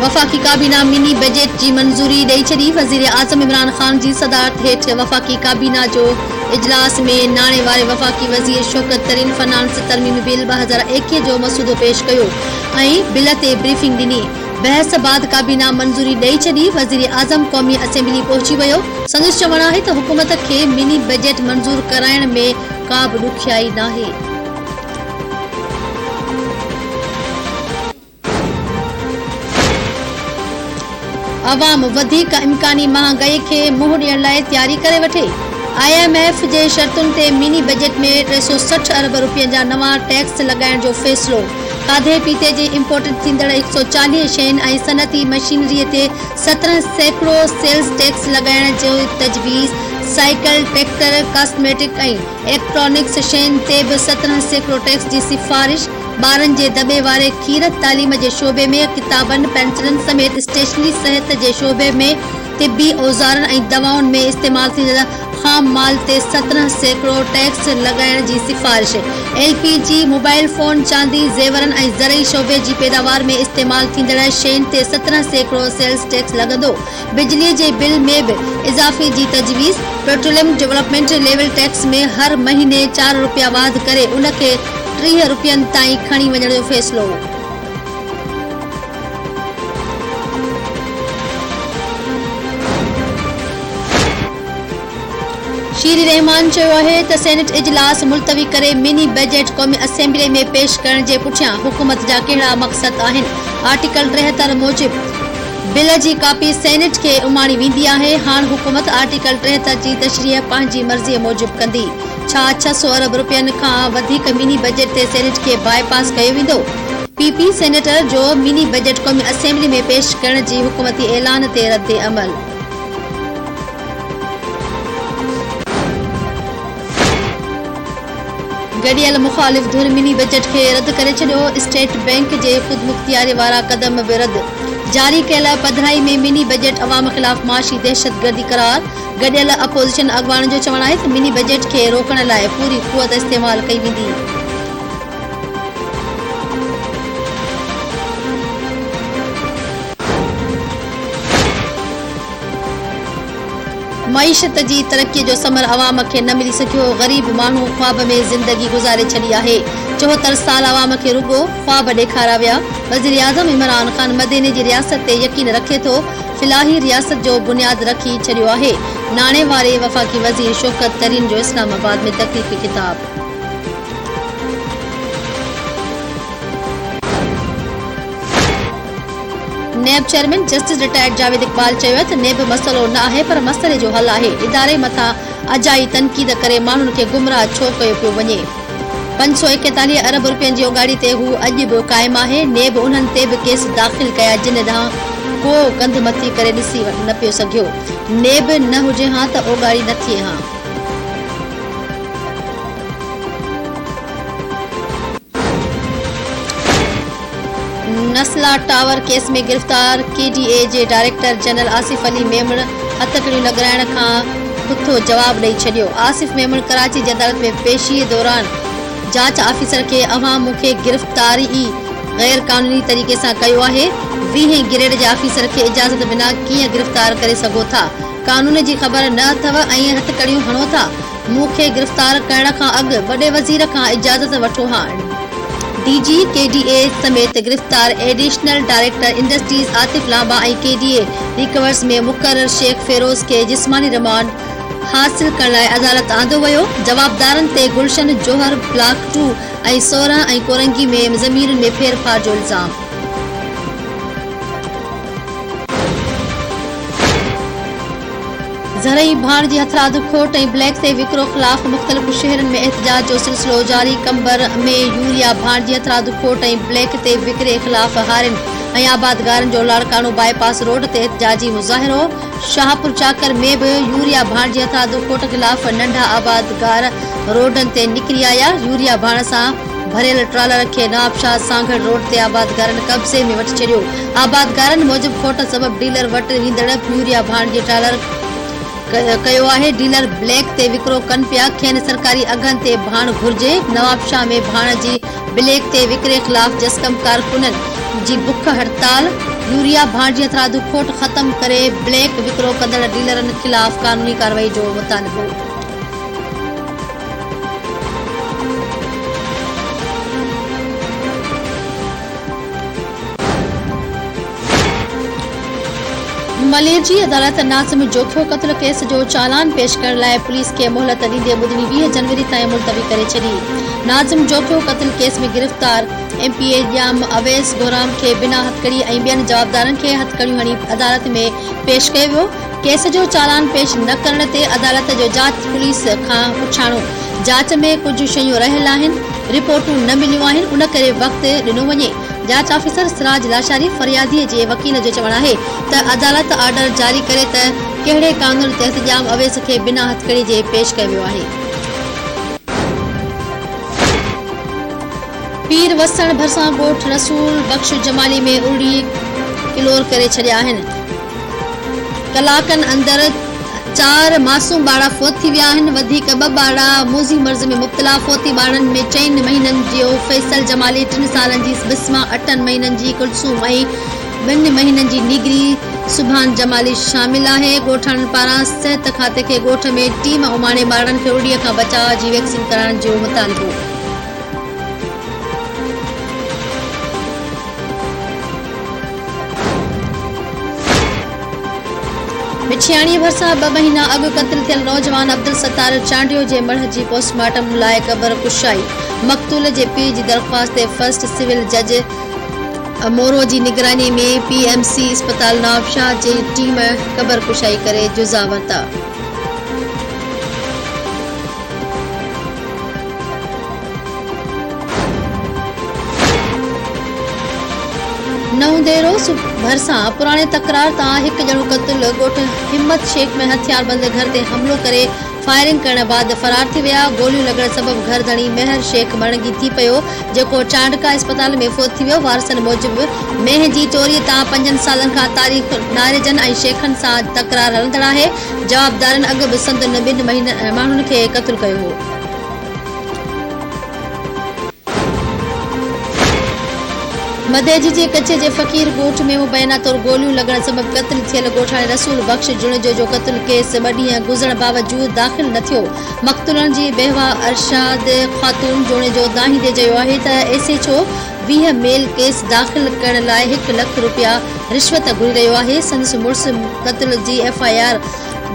وفاقي ڪابينا mini budget جي منظوري ڏئي ڇڏي، وزيراعظم عمران خان جي صدارت هيٺ وفاقي ڪابينا جو اجلاس ۾ ناڻي واري وفاقي وزير شوڪت ترين فنانس ترميمي بل 2021 جو مسودو پيش ڪيو، ۽ بل تي بريفنگ ڏني. بحث بعد ڪابينا منظوري ڏئي ڇڏي، وزيراعظم قومي اسيمبلي پهچي ويو، سندس چوڻ آهي ته حڪومت کي مني بجيٽ منظور ڪرائڻ ۾ ڪا به ڏکيائي ناهي. عوام وڌيڪ امڪاني مهانگائي کي منهن ڏيڻ لاء تياري ڪري وٺي، آء ايم ايف جي شرطن تي مني بجيٽ ۾ ٽي سؤ سٺ ارب رپين جا نوان ٽيڪس لڳائڻ جو فيصلو. کاڌي پيتي جي امپورٽ ٿيندڙ هڪ سؤ چاليهه شين ۽ صنعتي مشينري تي سترهن سيڪڙو سيلز ٽيڪس لڳائڻ جي تجويز، سائيڪل، ٽريڪٽر، ڪاسميٽڪ ۽ اليڪٽرانڪس شين تي به سترهن سيڪڙو ٽيڪس جي سفارش، ٻارن جي دٻي واري کير، تعليم جي شعبي ۾ ڪتابن، پينسلن سميت اسٽيشنري، صحت جي شعبي ۾ طبي اوزارن ۽ دوائن ۾ استعمال ٿيندڙ خام مال تي سترهن سيڪڙو ٽيڪس لڳائڻ جي سفارش L P G, mobile phone, چاندي، زيورن ۽ زرعي شعبي جي پيداوار ۾ استعمال ٿيندڙ شين تي سترهن سيڪڙو سيلز ٽيڪس لڳندو، بجلي جي بل ۾ به اضافي جي تجويز، پيٽروليم ڊولپمينٽ ليول ٽيڪس ۾ هر مهيني چار رپيا واڌ ڪري ان کي ٽيهه رپين تائين کڻي وڃڻ جو فيصلو. شيري رحمان چيو آهي ته سينيٽ اجلاس ملتوي ڪري ميني بجيٽ قومي اسيمبلي ۾ پيش ڪرڻ جي پٺيان حڪومت جا ڪهڙا مقصد آهن آرٽيڪل 73 موجب بل جي ڪاپي سينيٽ کي اماڻي ويندي آهي هاڻ حڪومت آرٽيڪل 73 جي تشريح پنهنجي مرضي موجب ڪندي ڇا ڇهه سؤ ارب رپين کان وڌيڪ ميني بجيٽ تي سينيٽ کي باء پاس ڪيو ويندو؟ پي پي سينيٽر جو ميني بجيٽ قومي اسيمبلي ۾ پيش ڪرڻ جي حڪومتي اعلان تي رد عمل. گڏيل مخالف ڌر ميني بجيٽ کي رد ڪري ڇڏيو، اسٽيٽ بئنڪ جي خودمختياري وارا قدم به رد، جاري ڪيل پڌرائي ۾ ميني بجيٽ عوام خلاف معاشي دهشتگردي قرار، گڏيل اپوزيشن اڳواڻن جو چوڻ آهي ته مني بجيٽ کي روڪڻ لاء پوري قوت استعمال ڪئي ويندي. معيشت جي ترقي جو ثمر عوام کي نه ملي سگهيو، غريب ماڻهو خواب ۾ زندگي گذاري ڇڏي آهي، چوهتر سال عوام کي رڳو خواب ڏيکاريا ويا، وزيراعظم عمران خان مديني جي رياست تي يقين رکي ٿو، فلاحي رياست جو بنياد رکي ڇڏيو آهي، ناڻي واري وفاقي وزير شوڪت ترين جو اسلام آباد ۾ تقريبي خطاب. NAB chairman justice retired Javed Iqbal چيو ته نيب مسئلو نه آهي پر مسئلي جو حل آهي، اداري مٿان اجائي تنقيد ڪري ماڻهن کي گمراهه ڇو ڪيو پيو وڃي. پنج سؤ ايڪيتاليهه ارب روپين جي اوڳاڙي تي هو اڄ به قائم آهي، نيب انهن تي به ڪيس داخل ڪيا جن ڏانهن ڪو ڪنڌ مٿي ڪري ڏسي نه پيو سگهيو، نيب نه هجي هان ته اوڳاڙي نه ٿئي هان. نسلا ٽاور ڪيس ۾ گرفتار ڪي ڊي اي جي ڊائريڪٽر جنرل آصف علي ميمڻ هٿڪڙيون لڳرائڻ کان پٺو جواب ڏئي ڇڏيو. آصف ميمڻ ڪراچي جي عدالت ۾ پيشي دوران جاچ آفيسر کي اوهان مون کي گرفتار ئي غير قانوني طريقي سان ڪيو آهي، ويهين گريڊ جي آفيسر کي اجازت بنا ڪيئن گرفتار ڪري سگهو ٿا، قانون جي خبر نه اٿو ۽ هٿڪڙيون هڻو ٿا، مون کي گرفتار ڪرڻ کان اڳ وڏي وزير کان اجازت وٺو هاڻ ڊي جي ڪي ڊي اي سميت گرفتار additional director industries Asif Lanba ۽ K D A recoveries ۾ مقرر شيخ فيروز کي جسماني رمانڊ حاصل ڪرڻ لاء عدالت آندو ويو جوابدارن تي گلشن جوهر بلاڪ ٽو ۽ سورهن ۽ ڪورنگي ۾ زمينن ۾ ڦير ڦار جو الزام. زرعي ڀاڻ جي هٿرادو کوٽ ۽ بليڪ تي وڪرو خلاف مختلف شهرن ۾ احتجاج جو سلسلو جاري، قمبر ۾ يوريا ڀاڻ جي هٿرادو کوٽ ۽ بليڪ تي وڪري خلاف هارين ۽ آبادگارن جو لاڙڪاڻو باء پاس روڊ تي احتجاجي مظاهرو، شاهپورچاڪر ۾ به يوريا ڀاڻ جي هٿرادو کوٽ خلاف ننڍا آبادگار روڊن تي نڪري آيا، يوريا ڀاڻ سان ڀريل ٽرالر کي نواب شاهه سانگهڙ روڊ تي آبادگارن قبضي ۾ وٺي ڇڏيو، آبادگارن موجب کوٽ سبب ڊيلر وٽ ويندڙ يوريا ڀاڻ جي ٽرالر ڪيو آهي، ڊيلر بليڪ تي وڪرو ڪن پيا، کين سرڪاري اگهن تي ڀاڻ گهرجي، نواب شاهه ۾ ڀاڻ جي بليڪ تي وڪري خلاف جسقم ڪارڪنن جي بک هڙتال، يوريا ڀاڻ جي هٿرادو کوٽ ختم ڪري بليڪ وڪرو ڪندڙ ڊيلرن خلاف قانوني ڪارروائي جو مطالبو. ملير جي عدالت ناظم جوکيو قتل ڪيس جو چالان پيش ڪرڻ لاء پوليس کي مهلت ڏيندي ٻڌڻي 20 جنوري تائين ملتوي ڪري ڇڏي ناظم جوکيو قتل ڪيس ۾ گرفتار M P A Jam Awais Gharam کي بنا هٿڪڙي ۽ ٻين جوابدارن کي هٿڪڙيون هڻي عدالت ۾ پيش ڪيو ويو ڪيس جو چالان پيش نه ڪرڻ تي عدالت جو جاچ پوليس کان پڇاڻو، جاچ ۾ ڪجهه شيون رهيل آهن، رپورٽون نه مليون آهن ان ڪري وقت ڏنو وڃي، جاچ آفيسر سراج لاشاري فريادي جي وڪيل جو چوڻ آهي ته عدالت آرڊر جاري ڪري ته ڪهڙي قانون تحت ڄام اويس کي بنا هٿڪڙي جي پيش ڪيو ويو آهي. پير وسڻ ڀرسان ڳوٺ رسول بخش جمالي ۾ ارڙهي ڪلور ڪري ڇڏيا آهن. ڪلاڪن اندر چار معصوم ٻارڙا فوت ٿي ويا آهن، وڌيڪ ٻه ٻارڙا موذي مرض ۾ مبتلا، فوتي ٻارڙن ۾ چئن مهينن جو فيصل جمالي، ٽن سالن جي بسما، اٺن مهينن جي ڪلثوم ۽ ٻن مهينن جي نيگري سبحان جمالي شامل آهي، ڳوٺاڻن پاران صحت کاتي کي ڳوٺ ۾ ٽيم اماڻي ٻارڙن کي رڙي کان بچاء جي ويڪسين ڪرائڻ جو مطالبو. مڇياڻيء ڀرسان ٻه مهينا اڳ قتل ٿيل نوجوان عبدالستار چانڊيو جي مڙهه جي پوسٽ مارٽم لاء قبر ڪشائي مقتول جي پيء جي درخواست تي فرسٽ سول جج مورو جي نگراني ۾ پي ايم سي اسپتال نوابشاهه جي ٽيم قبر ڪشائي ڪري جزا ورتا. نئون ديرو ڀرسان پراڻي تڪرار تان هڪ ڄڻو قتل ڳوٺ همت شيخ ۾ هٿياربند گهر تي حملو ڪري فائرنگ ڪرڻ بعد فرار ٿي ويا گوليون لڳڻ سبب گهر ڌڻي ميهر شيخ مڻگي ٿي پيو جيڪو چانڊڪا اسپتال ۾ فوت ٿي ويو وارثن موجب مينهن جي چوري تان پنجن سالن کان تاريخ ناريجن ۽ شيخن سان تڪرار هلندڙ آهي جوابدارن اڳ به سندن ٻن ماڻهن کي قتل ڪيو هو مدئجي جي ڪڇي جي فقير ڳوٺ ۾ مبينا طور گوليون لڳڻ سبب قتل ٿيل ڳوٺاڻي رسول بخش جوڻيجو جو قتل ڪيس ٻه ڏينهن گذرڻ باوجود داخل نه ٿيو مقتولن جي بيوه ارشاد خاتون جوڻيجو دانهيندي چيو آهي ته ايس ايڇ او ويهه ميل ڪيس داخل ڪرڻ لاء هڪ لک رپيا رشوت گهري رهيو آهي سندس مڙس قتل جي ايف آء آر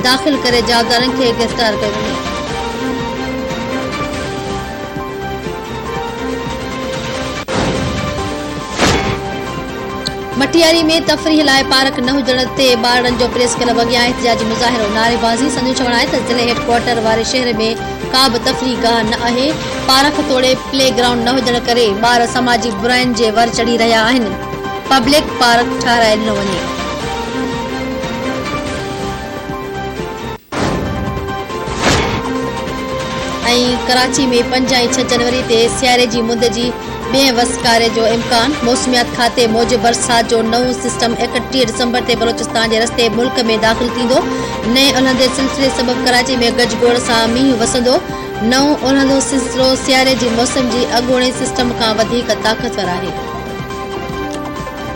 داخل ڪري جوابدارن کي گرفتار ڪيو وڃي. مٽياري ۾ تفريح لاء پارڪ نه هجڻ تي ٻارڙن جو پريس ڪلب اڳيان احتجاجي مظاهرو، نعريبازي، سندو چوڻ آهي ته ضلعي هيڊ ڪوارٽر واري شهر ۾ ڪا به تفريح گاهه نه آهي، پارڪ توڙي پلي گرائونڊ نه هجڻ ڪري ٻار سماجي براين جي ور چڙهي رهيا آهن، پبلڪ پارڪ ٺهرائي ڏنو وڃي. ڪراچي ۾ پنج ۽ ڇهه جنوري تي سياري جي مند جي ٻين وسڪاري جو امڪان، موسميات کاتي موجب برسات جو نئون سسٽم اڪٽيهه ڊسمبر تي بلوچستان جي رستي ملڪ ۾ داخل ٿيندو، نئين اولهندي سلسلي سبب ڪراچي ۾ گج گوڙ سان مينهن وسندو، نئون اولهندو سلسلو سياري جي موسم جي اڳوڻي سسٽم کان وڌيڪ طاقتور آهي.